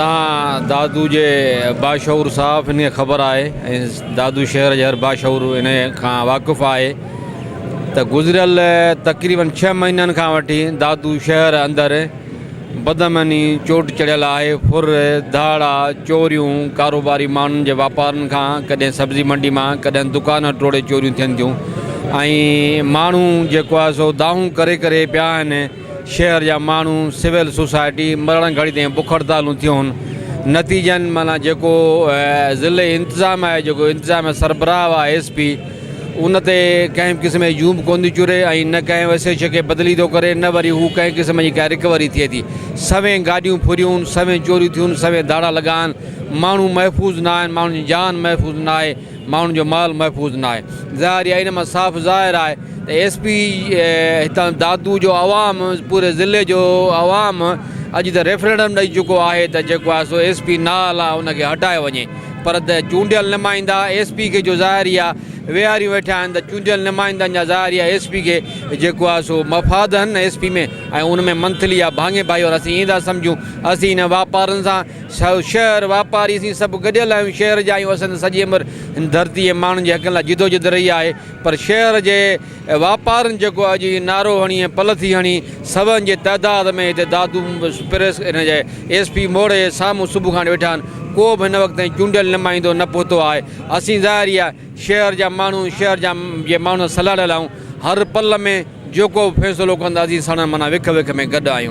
تان دادو جي باشعور صاف ان کي خبر آهي ۽ دادو شهر جي هر باشعور ان کان واقف آهي ته گذريل تقريبن ڇهه مهينن کان وٺي دادو شهر اندر بدامني چوٽ چڙهيل آهي ڦر، ڌاڙا، چوريون، ڪاروباري ماڻهن جي واپارن کان ڪڏهن سبزي منڊي مان ڪڏهن دڪان ٽوڙي چوريون ٿين ٿيون ۽ ماڻهو جيڪو آهي سو دانهون ڪري ڪري پيا آهن. شهر جا ماڻهو سول سوسائٽي مرڻ گهڙي تائين بک هڙتالون ٿيون نتيجن معنيٰ جيڪو ضلعي انتظام آهي جيڪو انتظام سربراهه آهي ايس پي ان تي ڪنهن به قسم جي جون به ڪون ٿي چوري ۽ نه ڪنهن ايس ايڇ او کي بدلي ٿو ڪري نه وري هو ڪنهن قسم جي ڪا رڪوري ٿئي ٿي سوين گاڏيون ڦريون سوين چوريون ٿيون سوين ڌاڙا لڳا آهن ماڻهو محفوظ نه آهن ماڻهن جي جان محفوظ نه آهي ماڻهن جو مال محفوظ ناهي ظاهر يا ان مان صاف ظاهر آهي ته ايس پي هتان دادو جو عوام پوري ضلعي جو عوام اڄ ته ريفرنڊم ڏئي چڪو آهي ته جيڪو آهي سو ايس پي نال آهي ان کي هٽايو وڃي پر چونڊيل نمائندا ايس پي کي جو ظاهر يا ويهاريون ويٺا آهن ته چونڊيل نمائندن جا ظاهر يا ايس پي کي جيڪو آهي سو مفاد آهن ايس پي ۾ ۽ ان ۾ منٿلي يا ڀاڱي ڀائيوار اسين ايئن ٿا سمجهون اسين ان واپارن سان شهر، واپاري اسين سڀ گڏيل آهيون، شهر جا آهيون، اسان ته سڄي عمر هن ڌرتي ۽ ماڻهن جي حقن لاء جدوجھد رهي آهي پر شهر جي واپارين جيڪو اڄ هي نعرو هڻي ۽ پل ٿي هڻي سون جي تعداد ۾ هتي دادو پريس ان جي ايس پي موڙي جي سامهون صبح کان ويٺا آهن ڪو به هن وقت تائين چونڊيل نمائندو نه پهتو آهي اسين ظاهري آهي شهر جا ماڻهو شهر جا جي ماڻهن سان لاڙيل آهيون هر پل ۾ جيڪو به فيصلو ڪندا اسين ساڻن معنيٰ وک وک ۾ گڏ آهيون.